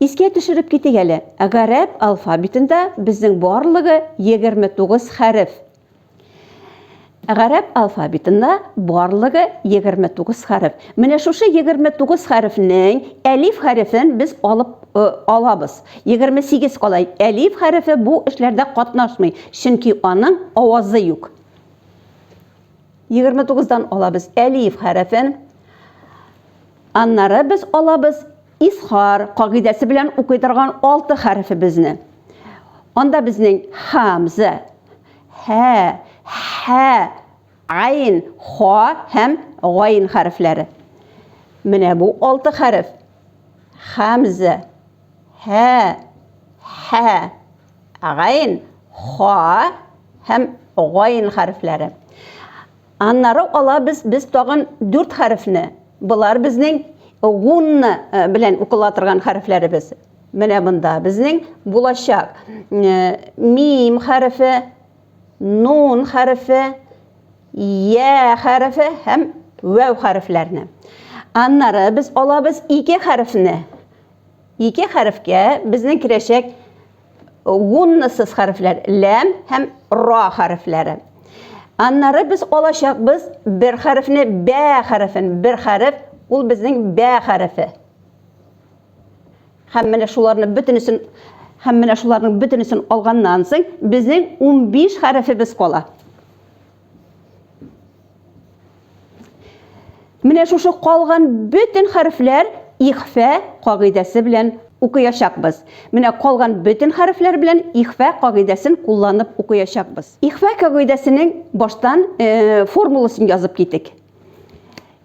Искә төшереп китик әле, гарәп алфавитында безнең барлыгы 29 хәреф. Гарәп алфавитында барлыгы 29 хәреф. Менә шушы 29 хәрефнең әлиф хәрефен без алып э, алабыз. 28 кала. Әлиф хәрефе бу эшләрдә катнашмый, чөнки аның авазы юк. 29-дан алабыз әлиф хәрефен. Аннары без алабыз Изхар кагыйдәсе белән укый торган алты хәрефебезне. Анда безнең хамза, һә, һә, айн, ха һәм гайн хәрефләре. Менә бу алты хәреф. Хамза, һә, һә, гайн, ха һәм гайн хәрефләре. Аннары алабыз без тагын дүрт хәрефне. Болар безнең гунна белән укыла торган хәрефләребез. Менә монда безнең булачак мим хәрефе, нун хәрефе, я хәрефе һәм вәү хәрефләрне. Аннары без алабыз ике хәрефне. Ике хәрефкә безнең керәчәк гуннасыз хәрефләр ләм һәм ра хәрефләре. Аннары без алачакбыз бер хәрефне бә хәрефен, бер хәреф ул безнең бә хәрефе. Һәм менә шуларны бөтенесен һәм менә шуларның бөтенесен алганнан соң безнең 15 хәрефебез кала. Менә шушы калган бөтен хәрефләр ихфә кагыйдәсе белән укыячакбыз. Менә калган бөтен хәрефләр белән ихфә кагыйдәсен кулланып укыячакбыз. Ихфә кагыйдәсенең баштан э, формуласын язып китик.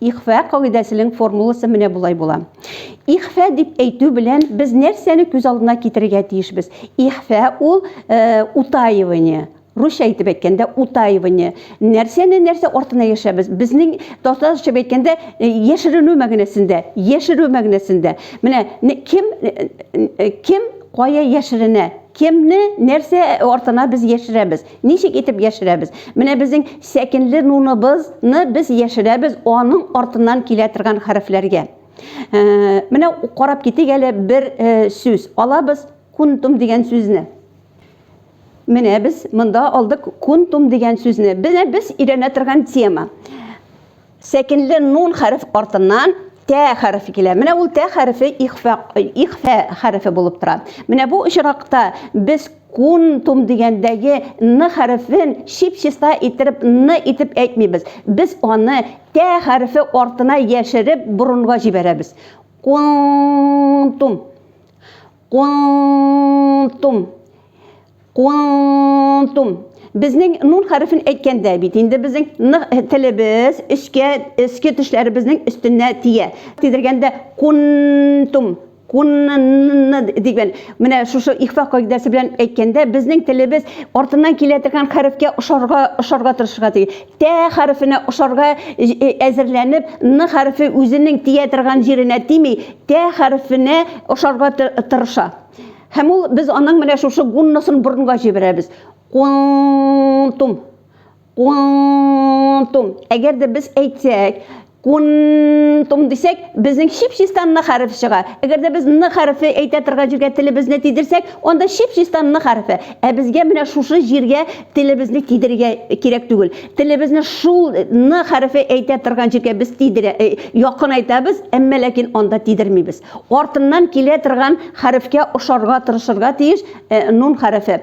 Ихфа кагыйдәсенең формуласы менә болай була. Ихфа дип әйтү белән без нәрсәне күз алдына китерергә тиешбез? Ихфа ул э, утаивание, Русча әйтеп әйткәндә утаивание. Нәрсәне нәрсә артына яшәбез? Безнең татарча әйткәндә э, яшеренү мәгънәсендә, яшерү мәгънәсендә. Менә кем э, э, кем кая яшеренә? Кемне нәрсә артына без яшерәбез? Ничек итеп яшерәбез? Менә безнең сәкенле нуныбызны без яшерәбез аның артыннан килә торган хәрефләргә. Э, менә карап китик әле бер э, сүз. Алабыз кунтум дигән сүзне. Менә без монда алдык кунтум дигән сүзне. Менә без өйрәнә торган тема. Сәкенле нун хәреф артыннан тә хәрефе килә. Менә ул тә хәрефе ихфа, ихфа хәрефе булып тора. Менә бу очракта без кунтум дигәндәге н хәрефен чип-чиста иттереп н итеп әйтмибез. Без аны тә хәрефе артына яшереп борынга җибәрәбез. Кунтум. Кунтум. Кунтум. Безнең нун хәрефен әйткәндә бит инде безнең телебез өскә өске тешләребезнең өстенә тия. Тидергәндә кунтум кунны дигән менә шушы ихфа кагыйдәсе белән әйткәндә безнең телебез артыннан килә торган хәрефкә ошарга ошарга тырышырга тиеш. Тә хәрефенә ошарга әзерләнеп, н хәрефе үзенең тия торган җиренә тими, тә хәрефенә ошарга тырыша. Һәм ул, без аның менә шушы гунносын борынга җибәрәбез. Кунтум. Кунтум. Әгәр дә без әйтсәк, Кунтум дисәк, безнең чип-чистан ны хәрефе чыга. Әгәр дә без ны хәрефе әйтә торган җиргә телебезне тидерсәк, анда чип-чистан ны хәрефе. Ә безгә менә шушы җиргә телебезне тидерергә кирәк түгел. Телебезне шул ны хәрефе әйтә торган җиргә без тидерә, якынайтабыз, әмма ләкин анда тидермибез. Артыннан килә торган хәрефкә ошарга тырышырга тиеш нун хәрефе.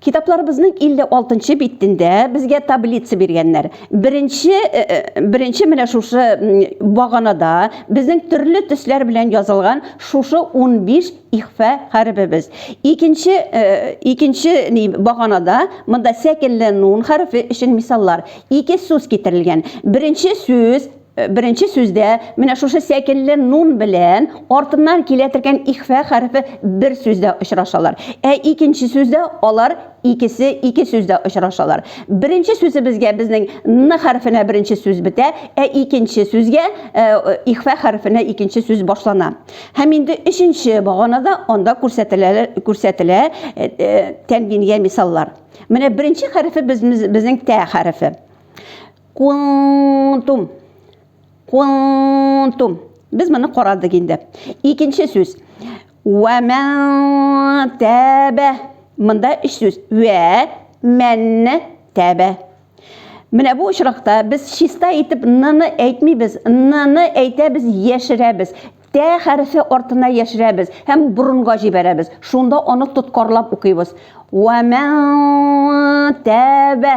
Китапларыбызның 56 нчы битендә безгә таблица биргәннәр. Беренче э, э, беренче менә шушы баганада безнең төрле төсләр белән язылган шушы 15 ихфа хәрефебез. Икенче э, икенче ни баганада монда сәкенле нун хәрефе өчен мисаллар. Ике сүз китерелгән. Беренче сүз Э, беренче сүздә менә шушы сәкелле нун белән артыннан килә торган ихфә хәрефе бер сүздә очрашалар. Ә икенче сүздә алар икесе ике сүздә очрашалар. Беренче сүзебезгә безнең н хәрефенә беренче сүз бетә, ә икенче сүзгә э, ихфә хәрефенә икенче сүз башлана. Һәм инде өченче баганада анда күрсәтелә күрсәтелә э, э, тәмгингә мисаллар. Менә беренче хәрефе безнең тә хәрефе. Кунтум. Кунтум. Без моны карадык инде. Икенче сүз. Вә мән тәбә. Монда өч сүз. Вә мән тәбә. Менә бу очракта без чиста итеп ныны әйтмибез, ныны әйтәбез, яшерәбез. Тә хәрефе артына яшерәбез һәм борынга җибәрәбез. Шунда аны тоткарлап укыйбыз. Вә мән тәбә.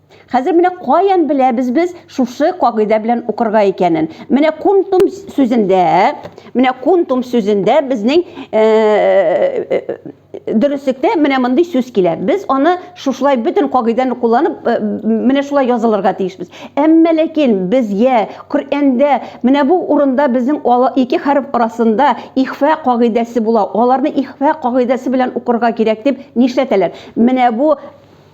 Хәзер менә каян беләбез без шушы кагыйдә белән укырга икәнен. Менә кунтум сүзендә, менә кунтум сүзендә безнең э, э, э, дөреслектә менә мондый сүз килә. Без аны шушылай бөтен кагыйдәне кулланып менә шулай язылырга тиешбез. Әмма ләкин без я Коръәндә менә бу урында безнең ике хәреф арасында ихфа кагыйдәсе була. Аларны ихфа кагыйдәсе белән укырга кирәк дип нишләтәләр? Менә бу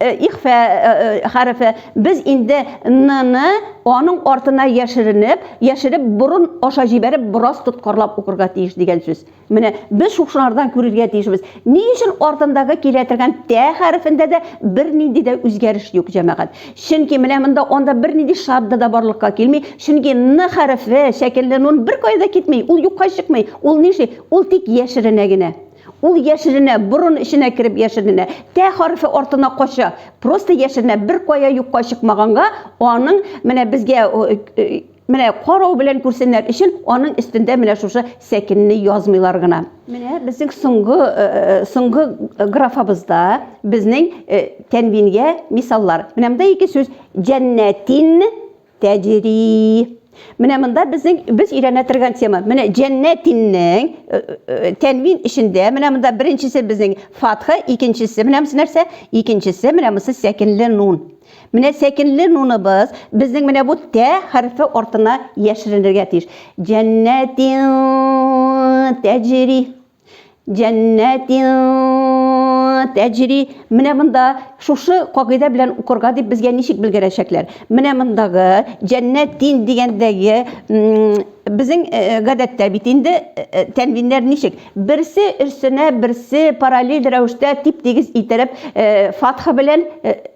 ихфә хәрефе. Без инде н-ны аның артына яшеренеп, яшереп борын аша җибәреп бераз тоткарлап укырга тиеш дигән сүз. Менә без шушылардан күрергә тиешбез. Ни өчен артындагы килә торган тә хәрефендә дә бернинди дә үзгәреш юк, җәмәгать? Чөнки менә монда анда бернинди шадда да барлыкка килми, чөнки н хәрефе шәкелле нун беркая да китми, ул юкка чыкмый, ул нишли, ул тик яшеренә генә. Ул яшеренә, борын эченә кереп яшеренә, тә хәрефе артына кача. Просто яшеренә, бер кая юкка чыкмаганга, аның менә безгә менә карау белән күрсеннәр өчен аның өстендә менә шушы сәкенне язмыйлар гына. Менә безнең соңгы соңгы графабызда безнең тәнвингә мисаллар. Менә монда ике сүз җәннәтин тәҗри. Менә монда безнең без өйрәнә торган тема. Менә җәннәтиннең э, э, э, тәнвин эчендә менә монда беренчесе безнең фатха, икенчесе менә монысы нәрсә? Икенчесе менә монысы сәкенле нун. Менә сәкенле нуныбыз безнең менә бу тә хәрефе артына яшеренергә тиеш. Җәннәтин тәҗри. Җәннәтин тәҗри. Менә монда шушы кагыйдә белән укырга дип безгә ничек белгерәчәкләр? Менә мондагы җәннәт дин дигәндәге безнең э, э, гадәттә бит инде э, тәнвиннәр ничек? Берсе өстенә берсе параллель рәвештә тип-тигез иттереп фатха белән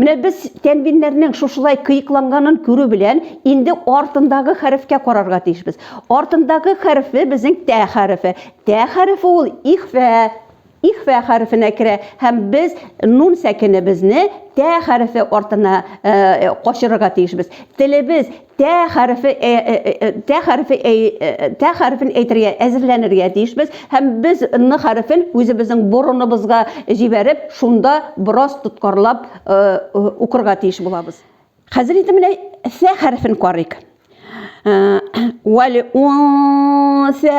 Менә без тәнвиннәрнең шушылай кыекланганын күрү белән, инде артындагы хәрефкә карарга тиешбез. Артындагы хәрефе безнең тә хәрефе. Тә хәрефе ул ихфә, ихфә хәрефенә керә һәм без нун сәкенебезне тә хәрефе артына э, качырырга тиешбез. Телебез Тә хәрефе э, э, э, тә хәрефе тә хәрефен әйтергә әзерләнергә тиешбез һәм без н хәрефен үзебезнең борыныбызга җибәреп, шунда бераз тоткарлап укырга тиеш булабыз. Хәзер инде менә сә хәрефен карыйк. Вәл унсә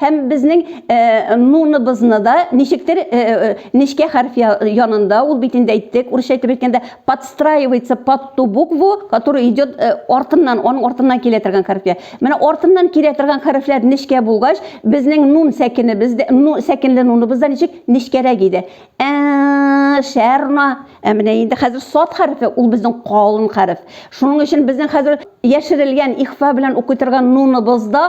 Һәм безнең нуныбызны да ничектер нечкә хәреф янында, ул бит инде әйттек, урысча әйтеп әйткәндә, подстраивается под ту букву, которая идет артыннан, аның артыннан килә торган хәрефкә. Менә артыннан килә торган хәрефләр нечкә булгач, безнең нун сәкенебез дә, ну, сәкенле нуныбыз да ничек? Нечкәрәк иде. Ә, шәрна. Ә менә инде хәзер сад хәрефе, ул безнең калын хәреф. Шуның өчен безнең хәзер яшерелгән ихфа белән укый торган нуныбыз да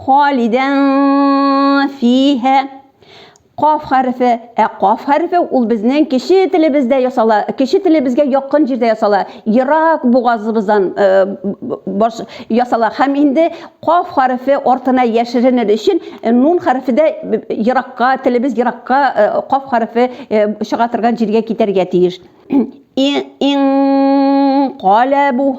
Халидән фиһә. Каф хәрефе, ә каф хәрефе ул безнең кече телебездә ясала, кече телебезгә якын җирдә ясала, ерак бугазыбыздан баш ясала. Һәм инде каф хәрефе артына яшеренер өчен нун хәрефе дә еракка, телебез еракка каф хәрефе чыга торган җиргә китәргә тиеш. Ин калабу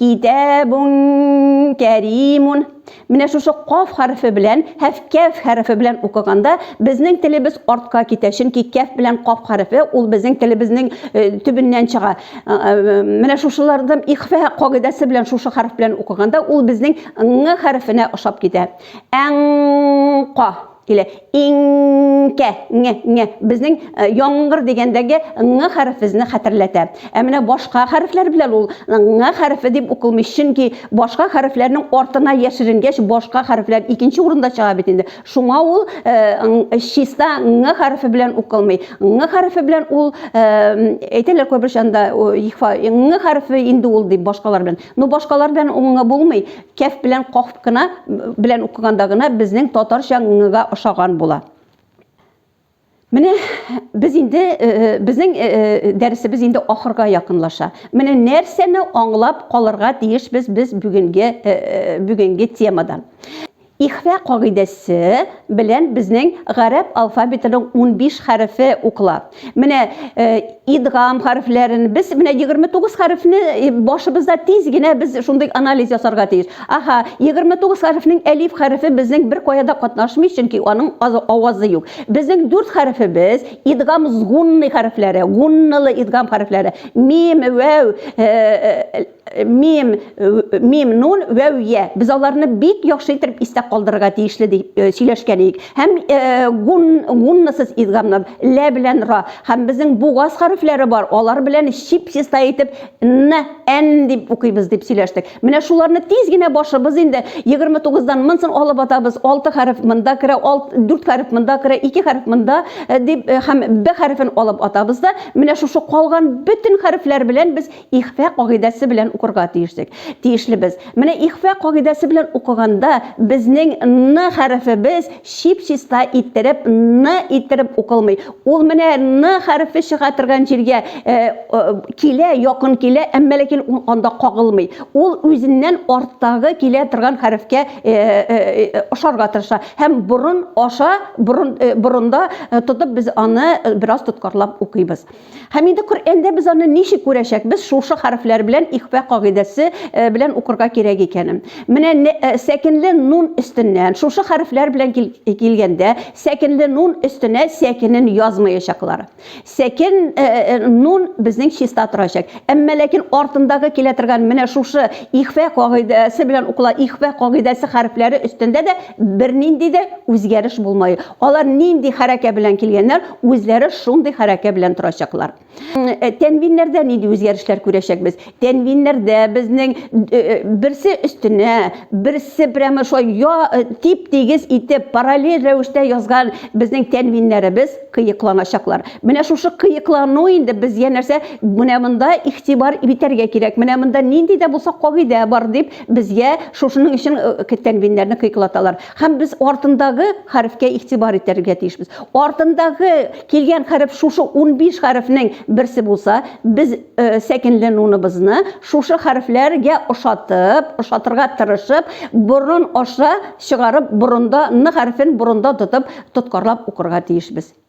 Китәбун кәримун. Менә шушы каф хәрефе белән һәм кәф хәрефе белән укыганда безнең телебез артка китә, чөнки кәф белән каф хәрефе ул безнең телебезнең э, төбеннән чыга. Э, э, менә шушылардан ихфә кагыйдәсе белән шушы хәреф белән укыганда ул безнең ң хәрефенә ошап китә. Әң ка Или инкә, ңе, ңе. Безнең э, яңгыр дигәндәге ңы хәрефезне хәтерләтә. Ә менә башка хәрефләр белән ул ңы хәрефе дип укылмый, чөнки башка хәрефләрнең артына яшеренгәч, башка хәрефләр икенче урында чыга бит инде. Шуңа ул э, чиста ңы хәрефе белән укылмый. Ңы хәрефе белән ул э, әйтәләр кайбер чанда ихфа ңы хәрефе инде ул дип башкалар белән. Но башкалар белән ул ңы булмый. Кәф белән каф кына белән укыганда гына безнең татарча ңыга ошаган була. Менә без инде безнең дәресебез инде ахырга якынлаша. Менә нәрсәне аңлап калырга тиешбез без бүгенге бүгенге темадан. Ихфа кагыйдәсе белән безнең гарәп алфавитының 15 хәрефе укыла. Менә э, идгам хәрефләрен без менә 29 хәрефне э, башыбызда тиз генә без шундый анализ ясарга тиеш. Аха, 29 хәрефнең әлиф хәрефе безнең бер кая да катнашмый, чөнки аның авазы юк. Безнең дүрт хәрефебез идгам згунный хәрефләре, гуннылы идгам хәрефләре. Мим, вәү, э, Мим, мим, нун, вәү, я. Без аларны бик яхшы итеп истә калдырырга тиешле дип сөйләшкән идек. Һәм гун, гуннасыз идгамны лә белән ра. Һәм безнең бугаз хәрефләре бар, алар белән чип чиста итеп н, н дип укыйбыз дип сөйләштек. Менә шуларны тиз генә башыбыз инде 29-дан монсын алып атабыз. 6 хәреф монда керә, 4 хәреф монда керә, 2 хәреф монда дип һәм б хәрефен алып атабыз да, менә шушы калган бөтен хәрефләр белән без Ихфа кагыйдәсе белән укырга тиешлек. Тиешлебез. Менә ихфа кагыйдәсе белән укыганда безнең н хәрефебез чип-чиста иттереп н иттереп укылмый. Ул менә н хәрефе чыга торган җиргә килә, якын килә, әмма ләкин ул анда кагылмый. Ул үзеннән арттагы килә торган хәрефкә ошарга тырыша. Һәм борын аша, борын, борында тотып без аны бераз тоткарлап укыйбыз. Һәм инде Коръәндә без аны ничек күрәчәкбез, шушы хәрефләр белән ихфа кагыйдәсе э, белән укырга кирәк икәнен. Менә э, сәкенле нун өстеннән, шушы хәрефләр белән килгәндә, сәкенле нун өстенә сәкенен язмаячаклар. Сәкен э, нун безнең чиста торачак. Әмма ләкин артындагы килә торган менә шушы ихфа кагыйдәсе белән укыла, ихфа кагыйдәсе хәрефләре өстендә дә бернинди дә үзгәреш булмай. Алар нинди хәрәкә белән килгәннәр, үзләре шундый хәрәкә белән торачаклар. Э, тәнвиннәрдә нинди үзгәрешләр күрәчәкбез? Тәнвиннәрдә безнең э, э, берсе өстенә, берсе прямо шулай я тип-тигез итеп параллель рәвештә язган безнең тәнвиннәребез кыекланачаклар. Менә шушы кыеклану инде безгә нәрсә? Менә монда игътибар итәргә кирәк. Менә монда нинди дә булса кагыйдә бар дип безгә шушының өчен тәнвиннәрне кыеклаталар. Һәм без артындагы хәрефкә игътибар итәргә тиешбез. Артындагы килгән хәреф шушы 15 хәрефнең берсе булса, без э, сәкенләнүнебезне шушы хәрефләргә ошатып, ошатырга тырышып, борын аша чыгарып, борында ны хәрефен борында тотып, тоткарлап укырга тиешбез.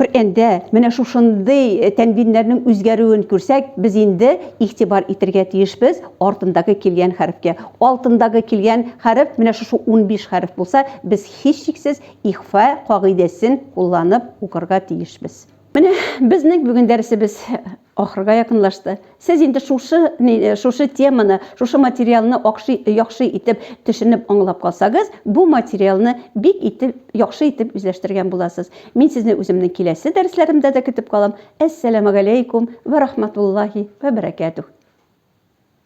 Коръәндә менә шушындый э, тәнвиннәрнең үзгәрүен күрсәк, без инде игътибар итәргә тиешбез артындагы килгән хәрефкә. Алтындагы килгән хәреф менә шушы 15 хәреф булса, без һичшиксез ихфа кагыйдәсен кулланып укырга тиешбез. Менә безнең бүген дәресебез Ахырга якынлашты. Сез инде шушы, ни, шушы теманы, шушы материалны акшы, яхшы итеп төшенеп аңлап калсагыз, бу материалны бик итеп, яхшы итеп үзләштергән буласыз. Мин сезне үземнең киләсе дәресләремдә дә көтеп калам. Әссәләмәгаләйкүм вә рахматуллаһи вә бәрәкәтүһ.